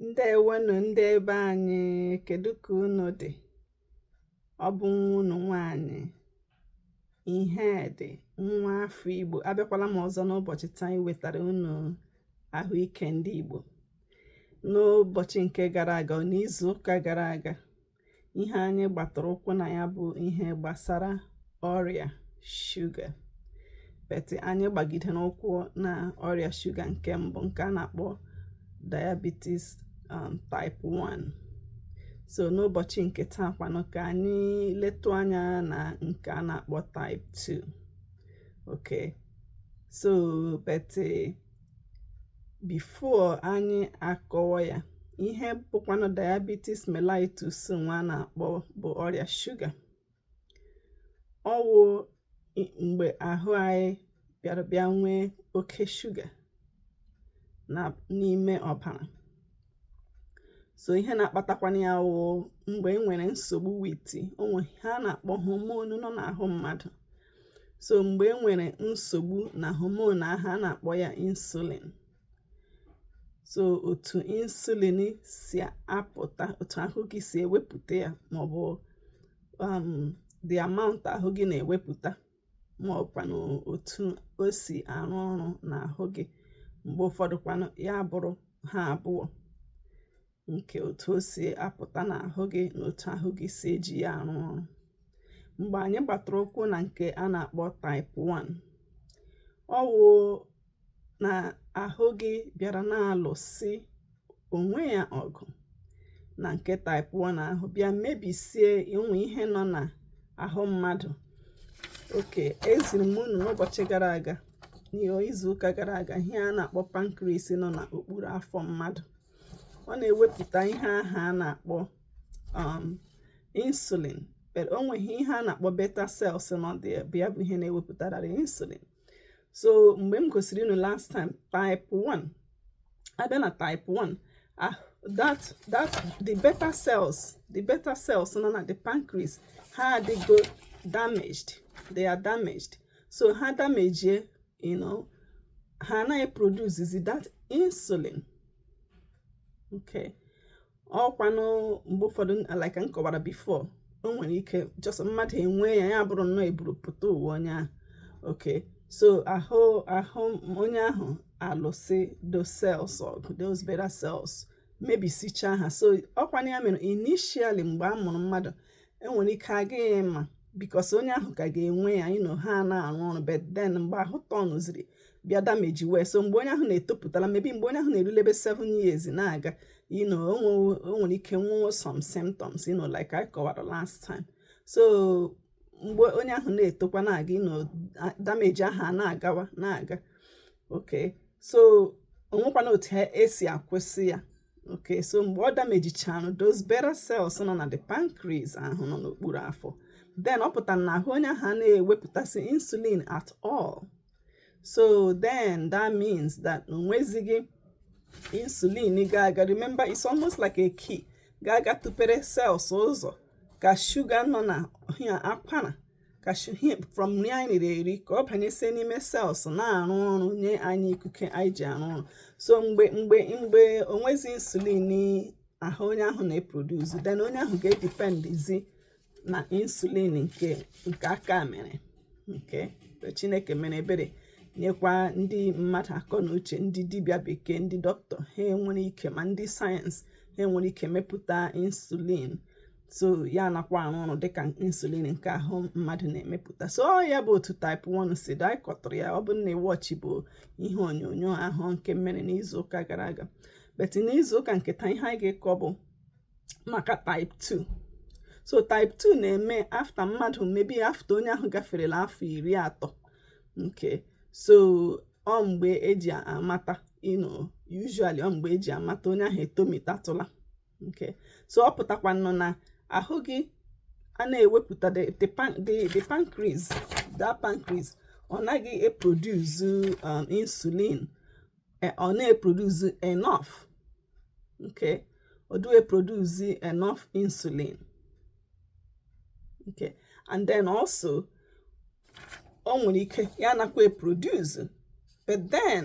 ǹdèewonù ndị ebe anyị kèdu kà unù dị̀ ọ bụ nwa unù nwaanyị̀ ihedị̀ nwa afọ igbò abịakwala m ọzọ n'ụbọ̀chị̀ taa iwètàrà unù àhụike ndị igbò n'ụbọ̀chị̀ ǹke gara àga nà izù ụkà gara àga ihe anyị gbatara ụkwụ na ya bụ ihe gbasara ọrịa shuga but anyị gbagidere ụkwụ na ọrịa shuga nke mbụ nke a na-akpọ diabetes um, type 1 so n'ụbọchị nke taa kwanụ ka anyị letụ anya na nke a na-akpọ type 2 okay so but before anyị akọwa ya ihe bụkwanụ diabetes mellitus nwa a na-akpọ bụ ọrịa shuga ọ wụ mgbe ahụ anyị bịara bịa nwee oke shuga na n'ime ọbara so ihe na-akpatakwanụ ya wụ mgbe e nwere nsogbu with o nwere ihe a na-akpọ hormone nọ n'ahụ mmadụ so mgbe e nwere nsogbu na hormone ahụ a na-akpọ ya insulin so otu insulin si apụta otu ahụ gị si ewepụta ya maọbụ um, the amount ahụ gị na-ewepụta ma ọkwanụ otu o si arụ ọrụ n'ahụ gị mgbe ụfọdụ kwanụ ya abụrụ ha abụọ nke otu o si apụta n'ahụ gị na otu ahụ gị si eji ya arụ ọrụ mgbe anyị gbatara ụkwụ na nke a na-akpọ type 1 ọ wụ na ahụ gị bịara na-alụsị onwe ya ọgụ na nke type 1 ahụ bịa mebisie ụmụ ihe nọ na ahụ mmadụ okay eziri m unu n'ụbọchị gara aga n'izuụka gara aga ihe a na-akpọ pancreas nọ n'okpuru afọ mmadụ ọ na-ewepụta ihe ahụ a na-akpọ um, insulin but o nwere ihe a na-akpọ beta cells nọ there bụ ihe na-ewepụta that insulin so mgbe m gosiri unu last time type 1 a bịa na type 1 ah that that the beta cells the beta cells nọ na the pancreas ha adịgo damaged they are damaged so ha damejie you know ha anaghị produce zi that insulin okay ọkwanụ mgbe ụfọdụ like m kọwara before o nwere ike just mmadụ enwe ya ya bụrụ nnọọ eburu pụta ụwa onye ahụ okay so ahụ ahụ onye ahụ alụsị those cells ọgụ those beta cells mebisichaa ha so ọkwanụ ya mere initially mgbe a mụrụ mmadụ enwere ike agaghị ma because onye ahụ ka ga-enwe ya you know ha na-arụ ọrụ but then mgbe ahụ tọnụziri bịa damage wee so mgbe onye ahụ na-etopụtala maybe mgbe onye ahụ na-erulebe 7 years na-aga you know o nwere ike nwee some symptoms you know like I kọwara last time so mgbe onye ahụ na-etokwa na-aga you know damage ahụ a na-agawa na-aga okay so onwekwana otu esi akwụsị ya okay so mgbe ọ damejichara those beta cells nọ na the pancreas ahụ nọ n'okpuru afọ then ọ pụtara na ahụ onye ahụ anaghị ewepụtazi insulin at all so then that means that onwezighị insulin ga-aga remember it's almost like a key ga-aga tupere cells ụzọ ka sugar nọ na akwara ka sugar from nri anyị riri eri ka ọ banyesie n'ime cells na-arụ ọrụ nye anyị ikike anyị ji arụ ọrụ so mgbe mgbe mgbe onwezi insulin ahụ onye ahụ na-eproduce then onye ahụ ga-edependizi na insulin nke nke aka mere okay chineke mere ebere nyekwa ndị mmadụ akọ na uche ndị dibịa bekee ndị dọkịta ha enwere ike ma ndị sayensị ha enwere ike mepụta insulin so ya anakwa arụ ọrụ dịka insulin nke ahụ mmadụ na-emepụta so ọ ya bụ otu type 1 si dị anyị kọtụrụ ya ọ bụrụ na ị watchibu ihe onyonyo ahụ nke mere n'izu ụka gara aga but n'izu ụka nke taa ihe anyị ga-akọ bụ maka type 2 so type 2 na-eme after mmadụ maybe after onye ahụ gaferela afọ iri atọ okay so ọ mgbe eji amata you know usually ọ mgbe eji amata onye ahụ etomitatụla okay so ọ pụtakwanụ na ahụ gị a na-ewepụta the pancreas that pancreas ọ naghị eproduce um, insulin e, ọ na-eproduce enough okay ọ dịghị eproduce enough insulin okay and then also o nwere ike ya anakwa eproduce but then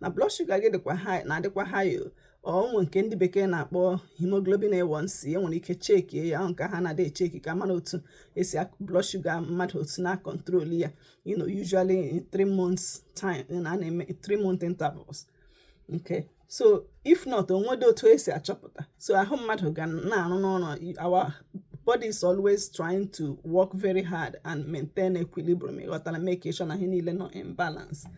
na blood sugar gị dịkwa high na-adịkwa high o nwere nke ndị bekee na-akpọ hemoglobin A1C enwere ike chekie ya nke ha na-adị echeki ka a mara otu esi blood sugar mmadụ otu na control ya you know usually in three months time na a na-eme three month intervals okay so if not onwedị otu esi achọpụta so ahụ mmadụ ga na-arụnụ ọrụ our body is always trying to work very hard and maintain equilibrium ịghọtara make sure na ihe niile nọ in balance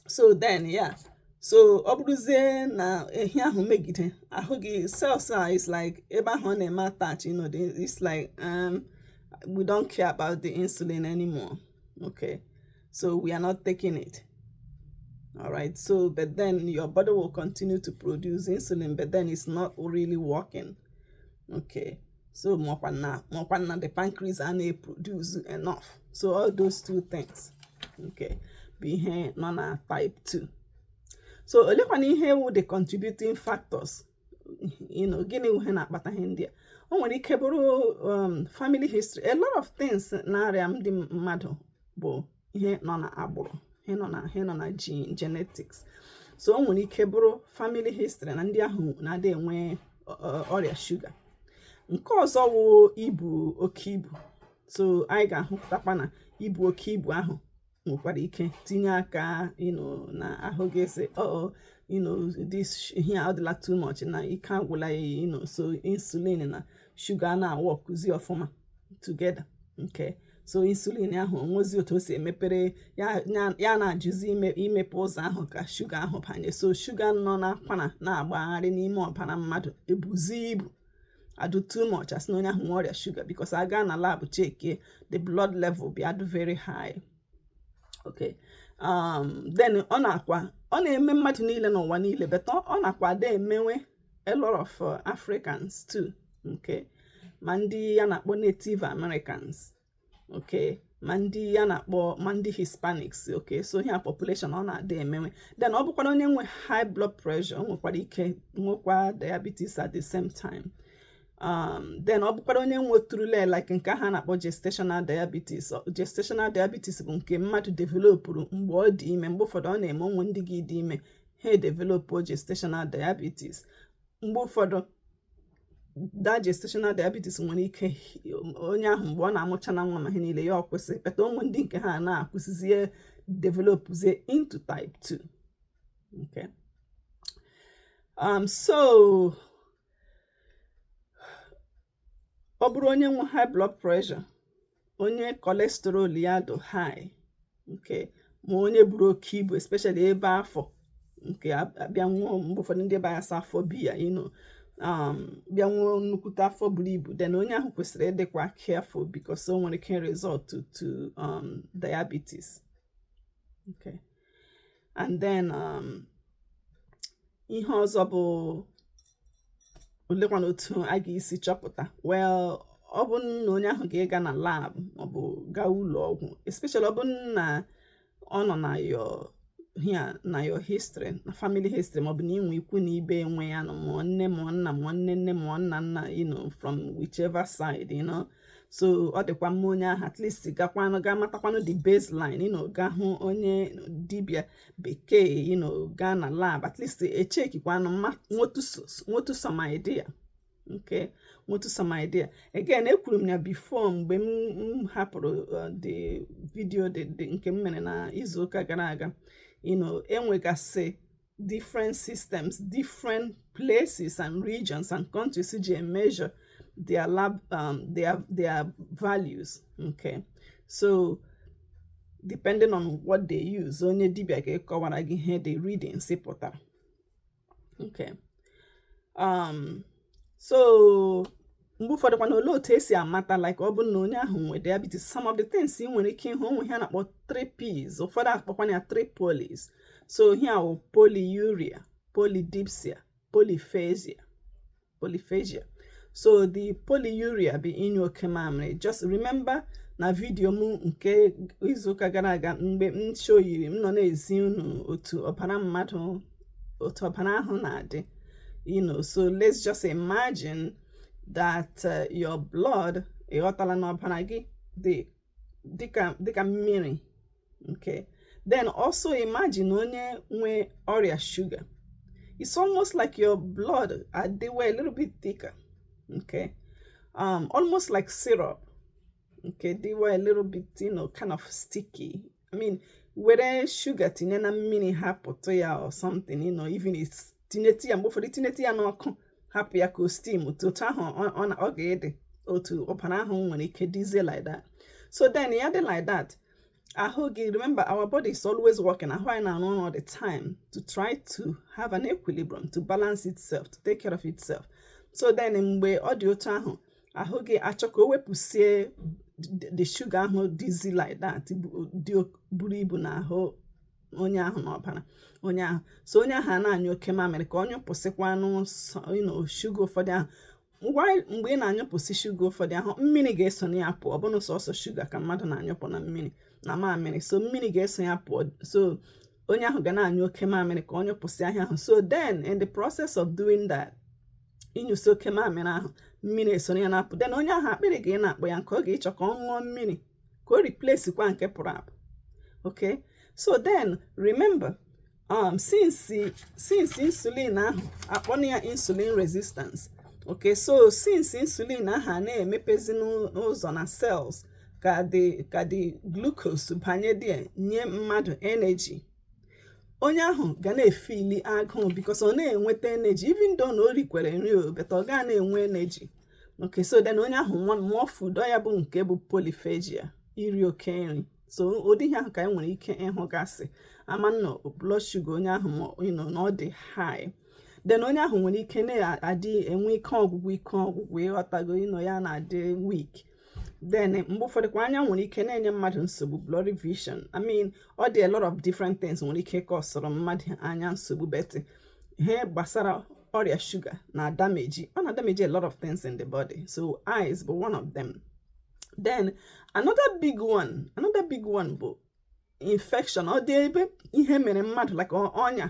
so then yeah so ọ bụrụzie na ihe ahụ megide ahụ gị cells a it's like ebe ahụ ọ na-eme attach you know it's like um, we don't care about the insulin anymore okay so we are not taking it all right so but then your body will continue to produce insulin but then it's not really working okay so makwa na makwa na the pancreas a na-eproduce enough so all those two things okay bụ ihe nọ na type 2 so olekwana ihe wụ the contributing factors you know gịnị wụ ihe na-akpata ihe ndị a o nwere ike bụrụ um, family history a lot of things na-arịa ndị mmadụ bụ ihe nọ na agbụrụ ihe nọ na ihe nọ na gene genetics so o nwere ike bụrụ family history na ndị ahụ na-adị enwe ọrịa shuga nke ọzọ wụ ibu oke ibu so anyị ga-ahụtakwa na ibu oke ibu ahụ nwekwara ike tinye aka you know na ahụ ga-asị ọ oh, oh, you know this ihe a ọ dịla too much na ike agwụla ya you know so insulin na shuga na-aworkụzi ọfụma together okay so insulin ahụ o nwezi otu o si emepere ya na-ajụzi imepe ụzọ ahụ ka shuga ahụ banye so shuga nọ n'akwara na-agbagharị n'ime ọbara mmadụ ebuzi ibu adụ too much a sị na onye ahụ nwe ọrịa shuga because a gaa na lab checkie the blood level bịa adụ very high okay um, then ọ na-akwa ọ na-eme mmadụ niile n'ụwa niile but ọ na-akwa adị emewe a lot of uh, Africans too okay ma ndị a na-akpọ Native Americans okay ma ndị a na-akpọ ma ndị Hispanics okay so ihe a population ọ na-adị emewe then ọ bụkwara onye nwe high blood pressure o nwekwara ike nwekwa diabetes at the same time um, then ọ bụkwara onye nweturule like nke ha na-akpọ gestational diabetes gestational diabetes bụ nke mmadụ developụrụ mgbe ọ dị ime mgbe ụfọdụ ọ na-eme o nwe ndị ga-ịdị ime ha edevelopu gestational diabetes mgbe ụfọdụ that gestational diabetes nwere ike onye ahụ mgbe ọ na-amụcha na nwa ma ihe niile ya ọ kwụsị but o nwe ndị nke ha na-akwụsịzie developzie into type 2 okay um so ọ bụrụ onye nwe high blood pressure onye cholesterol ya dị high okay ma onye buru oke ibu especially ebe afọ nke a bịa nwụọ mgbe ụfọdụ ndị be anyị asị afọ biya you know um, bịa nwụọ nnukwute afọ buru ibu then onye ahụ kwesịrị ịdịkwa careful because o nwere ike result to um, diabetes okay and then um, ihe ọzọ bụ olekwana otu a ga-esi chọpụta well ọ bụ na onye ahụ ga-ịga na lab maọbụ gaa ụlọ ọgwụ especially ọ bụ na ọ nọ na your hi na your history na family history maọbụ na i nwe ikwu na ibe nwe ya you know ma nne ma nna ma nne nne ma nna nna you know from whichever side you know so ọ dịkwa mma onye ahụ at least gakwanụ ga matakwanụ the baseline you know ga hụ onye dibia bekee you know gaa na lab at least echekikwanụ nwotu some idea okay nwotu some idea again ekwuru m ya before mgbe m hapụrụ uh, the video nke m mere na izuụka gara aga you know enwegasị different systems different places and regions and countries ji emeasure their lab um, their their values okay so depending on what they use onye dibia ga-ekọwara gị ihe the readings pụtara okay um so mgbe ụfọdụ kwana olee otu esi amata like ọ bụrụ na onye ahụ nwee diabetes some of the things ị nwere ike ịhụ o nwe ihe a na-akpọ three P's ụfọdụ akpọkwana ya three polys so ihe ahụ polyuria polydipsia polyphagia so the polyuria bụ ịnyụ oke mamịrị just remember na vidiyo m nke izuụka gara aga mgbe m shoyiri m nọ na-ezi unu otu ọbara mmadụ otu ọbara ahụ na-adị you know so let's just imagine that uh, your blood ị ghọtala na ọbara gị dị dịka mmiri okay then also imagine onye nwe ọrịa shuga it's almost like your blood adịwa a little bit thicker okay um almost like syrup okay adịwa a little bit you know kind of sticky I mean were shuga tinye na mmiri hapụtụ ya or something you know even tinyetụ ya mgbe ụfọdụ tinyetụ ya n'ọkụ hapụ ya ka o steam otu ahụ ọ ga-adị otu ọbara ahụ nwere ike dịzie like that so then ya dị like that ahụ gị remember our body is always working ahụ anyị na-arụ ọrụ all the time to try to have an equilibrium to balance itself to take care of itself so then mgbe ọ dị otu ahụ ahụ gị achọ ka o wepụsie the shuga ahụ dịzi like that buru ibu na ahụ onye ahụ n'ọbara onye ahụ so onye ahụ a na-anyụ oke mamịrị ka ọ nyụpụsịkwanụ shuga ụfọdụ ahụ mgbe ị na-anyụpụsị shuga ụfọdụ ahụ mmiri ga-eso na ya pụọ ọ bụrọ sọsọ shuga ka mmadụ na-anyụpụ na mmiri na mamịrị so mmiri ga-eso ya pụọ so onye ahụ ga na-anyụ oke mamịrị ka ọ nyụpụsị ihe ahụ so then in the process of doing that ịnyụsị oke mamịrị ahụ mmiri esoro ya na-apụ then onye ahụ akpịrị ga ị na-akpọ ya nkụ ọ ga-ịchọ ka ọ ṅụọ mmiri ka o replace kwa nke pụrụ apụ okay so then remember um, since since insulin ahụ akpọna ya insulin resistance okay so since insulin ahụ a na-emepezi n'ụzọ na cells ka the ka the glucose banye there nye mmadụ energy onye ahụ ga na-efili agụụ because ọ na-enweta energy even though na o rikwere nri o but ọ ga na-enwe energy okay so then onye ahụ more food ọ ya bụ nke bụ polyphagia iri oke nri so ụdị ihe ahụ ka anyị nwere ike ịhụgasị ama na blood sugar onye ahụ you know, na ọ dị high then onye ahụ nwere ike na-adị enwe ike ọgwụgwụ ike ọgwụgwụ ị ghọtago you know ya na-adị weak then mgbe ụfọdụ kwa anya nwere ike na-enye mmadụ nsogbu blurry vision i mean ọ dị a lot of different things nwere ike kọsọrọ mmadụ anya nsogbu but ihe gbasara ọrịa shuga na-adameji ọ na-adameji a lot of things in the body so eyes bụ one of them then another big one another big one bụ infection ọ dị ebe ihe mere mmadụ like ọnya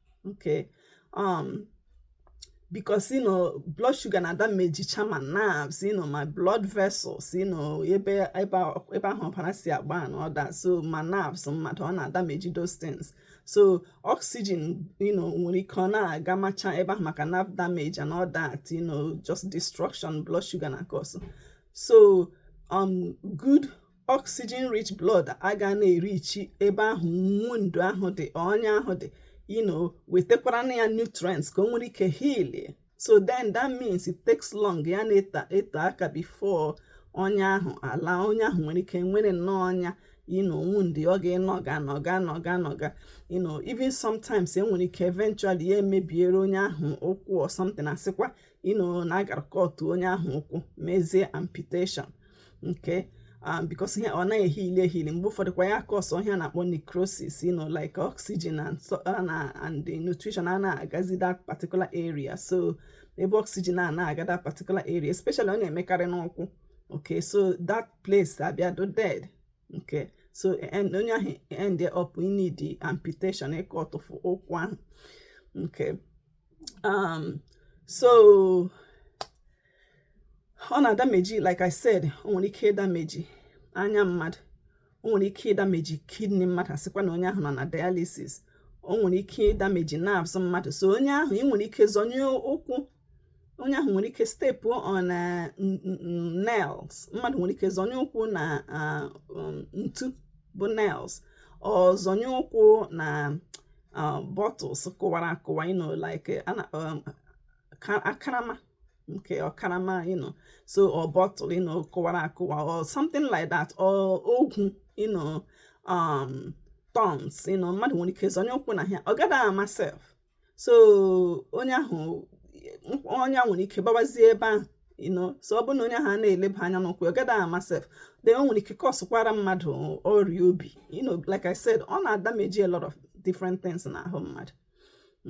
okay um because you know blood sugar na-adamejicha ma nerves you know ma blood vessels you know ebe ebe ahụ ọbara si agba and all that so ma nerves mmadụ ọ na-adameji those things so oxygen you know nwere ike ọ na-agamacha ebe ahụ maka nerve damage and all that you know just destruction blood sugar na cause so um good oxygen rich blood aga na-erichi ebe ahụ wound ahụ dị ọnya ahụ dị you know wetekwara na ya nutrients ka o nwere ike heal so then that means it takes long ya na-ete aka before ọnya ahụ alaa onye ahụ nwere ike nwere nnọọ ọnya you know wound ọ ga-anọga nọga nọga nọga you know even sometimes enwere ike eventually ya emebiere onye ahụ ụkwụ or something asịkwa you know na a gara kọtụ onye ahụ ụkwụ mezie amputation okay um, because ihe ọ naghị ehili ehili mgbe ụfọdụ kwa ya kọsọ ihe a na-akpọ necrosis you know like oxygen and, so, uh, na, and the nutrition a na-agazi that particular area so ebe oxygen a na-aga that particular area especially ọ na-emekarị n'ụkwụ okay so that place abịa dị dead okay so onye ahụ end up inidi amputation ịkọtụfụ ụkwụ ahụ okay um so ọ na-adameji like I said o nwere ike ịdameji anya mmadụ o nwere ike ịdameji kidney mmadụ asịkwa na onye ahụ nọ na dialysis o nwere ike ịdameji nerves mmadụ so onye ahụ ị nwere ike zọnye ụkwụ onye ahụ nwere ike stepu on uh, nails mmadụ nwere ike zọnye ụkwụ na uh, um, ntu bụ nails or zọnye ụkwụ na uh, bottles kụwara akụwa you know like uh, ana um, akarama okay or karama you know so or bottle you know kụwara akụwa or something like that or ogwu you know um thorns you know mmadụ nwere ike zọnye ụkwụ na ya ọ gada ama self so onye ahụ ọnya nwere ike gbawazie ebe ahụ you know so ọ bụrụ na onye ahụ na-eleba anya n'ụkwụ ọ gaghị ama sef then o nwere ike kọsụkwara mmadụ ọrịa obi you know like I said ọ na-adameji a lot of different things n'ahụ mmadụ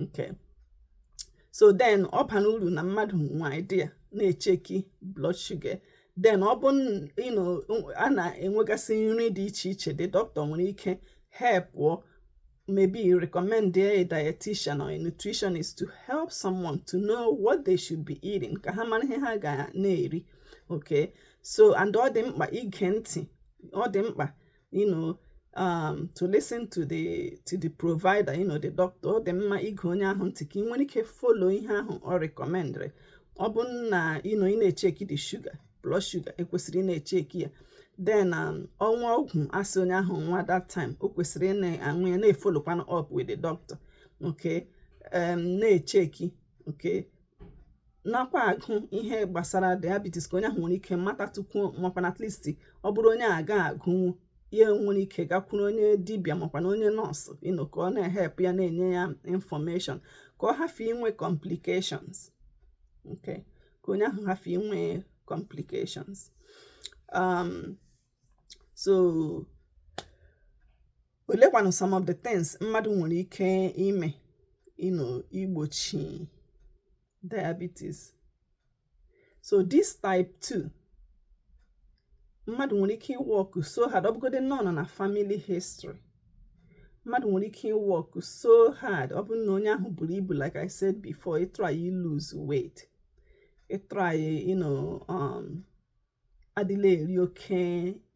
okay so then ọ bara uru na mmadụ nwe idea na-echeki blood sugar then ọ bụ a na-enwegasị nri dị iche iche the doctor nwere ike help maybe recommend a dietitian or a nutritionist to help someone to know what they should be eating ka ha mara ihe ha ga na-eri okay so and ọ dị mkpa ige ntị ọ dị mkpa you know um, to listen to the to the provider you know the doctor ọ dị mma ige onye ahụ ntị ka ị nwere ike follow ihe ahụ ọ rekọmendịrị ọ bụ na you know ị na-echeki the sugar blood sugar e kwesịrị ịna-echeki ya then um, o nwee ọgwụ a sị onye ahụ ṅụwa that time o kwesịrị ịna-aṅụ ya na-efolokwanụ up with the doctor okay um, na-echeki okay nakwa agụ ihe gbasara diabetes ka onye ahụ nwere ike mata tupu makwana at least ọ bụrụ onye aga agụnwu ya nwere ike gakwuru onye dibịa makwa na onye nọọsụ you know ka ọ na-ehep ya na-enye ya infọmeshọn ka ọ hafụ inwe complications okay ka onye ahụ hafụ inwe complications um, so olekwanụ some of the things mmadụ nwere ike ime you know igbochi diabetes so this type 2 mmadụ nwere ike ịwọkụ so hard ọ bụgodi na ọ nọ na family history mmadụ nwere ike ịwọkụ so hard ọ bụrụ na onye ahụ buru ibu like i said before ịtry ilose weight ịtry you know um, adịla eri oke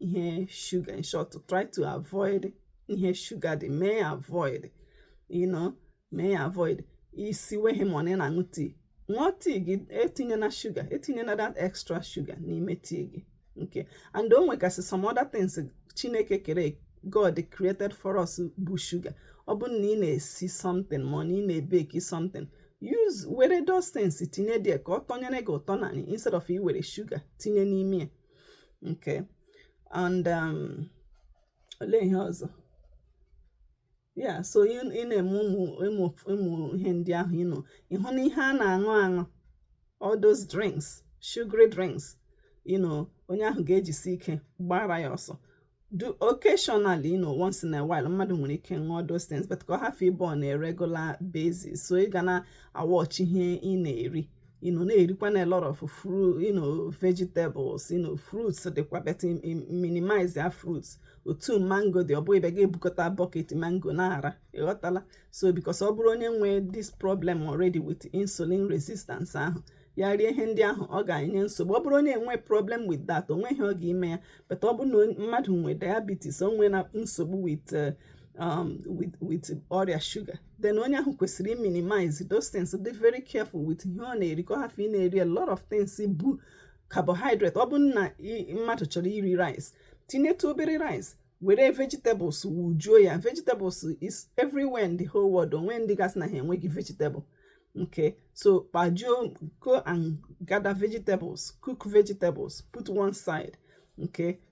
ihe shuga in short to try to avoid ihe shuga dị mee avoid you know mee ya avoid isi weghị ma ọ na ị na-aṅụ tii ṅụọ tii gị etinyena shuga etinyena that extra shuga n'ime tii gị okay and o nwegasị some other things chineke kere god created for us bụ shuga ọ bụrụ na ị na-esi something ma ọ na ị na-ebeki something use were those things tinye there ka ọ tọnyere gị ụtọ na instead of iwere shuga tinye n'ime ya okay and um, olee ihe ọzọ yeah so ị na-eme ụmụ ụmụ ihe ndị ahụ you know ịhụ na ihe a na-aṅụ aṅụ all those drinks sugary drinks you know onye ahụ ga-ejisi ike gbara ya ọsọ though occasionally you know once in a while mmadụ nwere ike ṅụọ those things but ka ọ hafụ ịbụ on a regular basis so ị ga na-awọchi ihe ị na-eri you know na-erikwa na a lot of fruit you know vegetables you know fruits dịkwa but minimize ya fruits otu mango dị ọ bụghị ebe ị ga-ebukọta bucket mango na-ara ị ghọtala so because ọ bụrụ onye nwee this problem already with insulin resistance ahụ ya rie ihe ndị ahụ ọ ga-enye nsogbu ọ bụrụ onye enwe problem with that o nweghị ihe ọ ga-eme ya but ọ bụrụ na mmadụ nwee diabetes o nweena nsogbu with uh, um, with ọrịa shuga then onye ahụ kwesịrị minimize those things dị very careful with ihe ọ na-eri ka ọ hafụ ị na-eri a lot of things bụ carbohydrate ọ bụ na mmadụ chọrọ iri rice tinyetụ obere rice were vegetables wujuo ya vegetables is everywhere in the whole world o nwe ndị ga-asị na ha enweghị vegetable okay so kpajuo go and gather vegetables cook vegetables put one side okay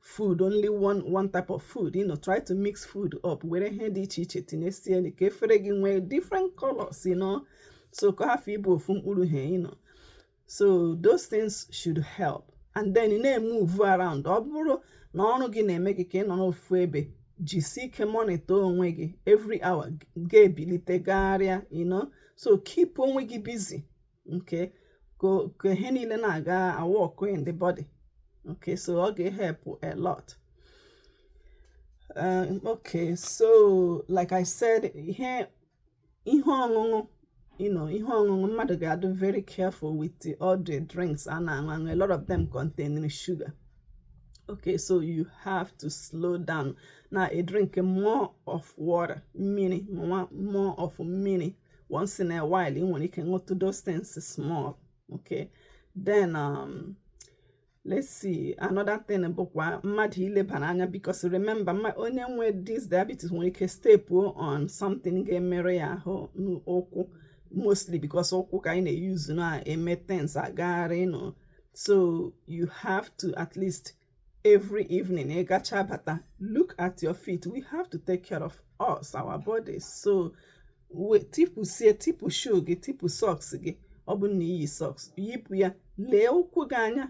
food only one one type of food you know try to mix food up were ihe dị iche iche tinyesie ka efere gị nwee different colors you know so ka ọ hafụ ịbụ ofu mkpụrụ ihe you know so those things should help and then ị na-emove around ọ bụrụ na ọrụ gị na-eme gị ka ị nọrọ ofu ebe jisi ike monitor onwe gị every hour ga-ebilite gagharịa you know so keep onwe gị busy okay ka ihe niile na-aga awork in the body okay so ọ ga-ehelp a lot um, okay so like I said ihe ihe ọṅụṅụ you know ihe ọṅụṅụ mmadụ ga-adụ very careful with the, all the drinks a na-aṅụ aṅụ a lot of them contain sugar okay so you have to slow down na-edrink more of water mmiri more of mmiri once in a while ị nwere ike ṅụtụ those things small okay then um, let's see another thing bụkwa mmadụ ilebara anya because remember onye nwe this diabetes nwere ike step on something ga-emerụ ya ahụ n'ụkwụ mostly because ụkwụ ka anyị na-euse na-eme things agagharị you know so you have to at least every evening ị gacha bata look at your feet we have to take care of us our bodies so we tipu sie tipu shoe gị tipu socks gị ọ bụ na i yi socks yipụ ya lee ụkwụ gị anya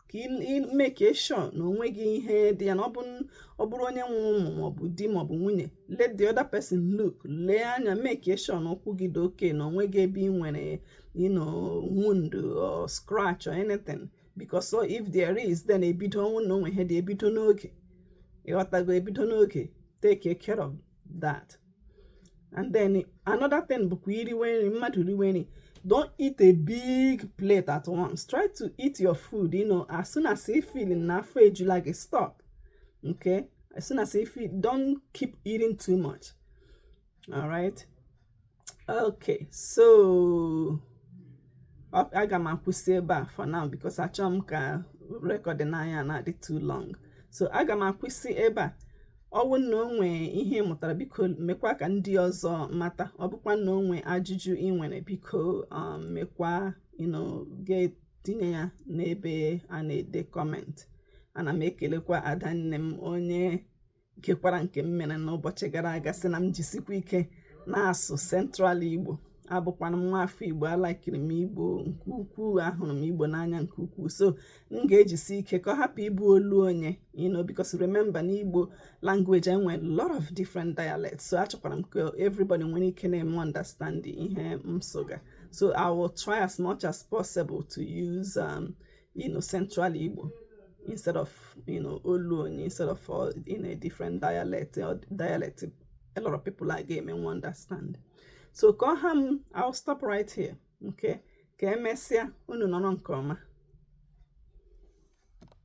ka ị make sure na o nweghị ihe dị ya na ọ bụrụ onye nwe ụmụ maọbụ di maọbụ nwunye let the other person look lee anya make sure na ụkwụ gị dị okay na o nweghị ebe ị nwere you know wound or scratch or anything because so if there is then ebido ọ bụ na o nwe ihe dị ebido n'oge ị ghọtago ebido n'oge take care of that and then another thing bụkwa iriwe nri mmadụ riwe nri don't eat a big plate at once try to eat your food you know as soon as you feel na afọ ejula gị stop okay as soon as you feel don't keep eating too much all right okay so aga m akwụsị ebe a for now because achọghị m ka recording anyị na-adị too long so aga m akwụsị ebe a ọ wụ na o nwe ihe ị mụtara biko mekwa ka ndị ọzọ mata ọ bụkwa na o nwe ajụjụ i nwere biko um, mekwa gaa tinye ya n'ebe a na-ede comment ana m ekelekwa adanne m onye gekwara nke m mere n'ụbọchị gara aga sị na m jisikwa ike na-asụ central igbo abụkwanụ m nwa afọ igbo alaịkịrị m igbo nke ukwuu ahụrụ m igbo n'anya nke ukwuu so m ga-ejisi ike ka ọ hapụ ịbụ olu onye you know because remember n'igbo language e nwe a lot of different dialects so achọkwara m ka everybody nwere ike na-eme understand ihe m sụga so i will try as much as possible to use um, you know, central Igbo instead of, you know, Oluni, instead of all in a different dialect or dialect a lot of people are game and understand. So call him, I'll stop right here. Okay. Ka emesịa unu nọrọ nke ọma.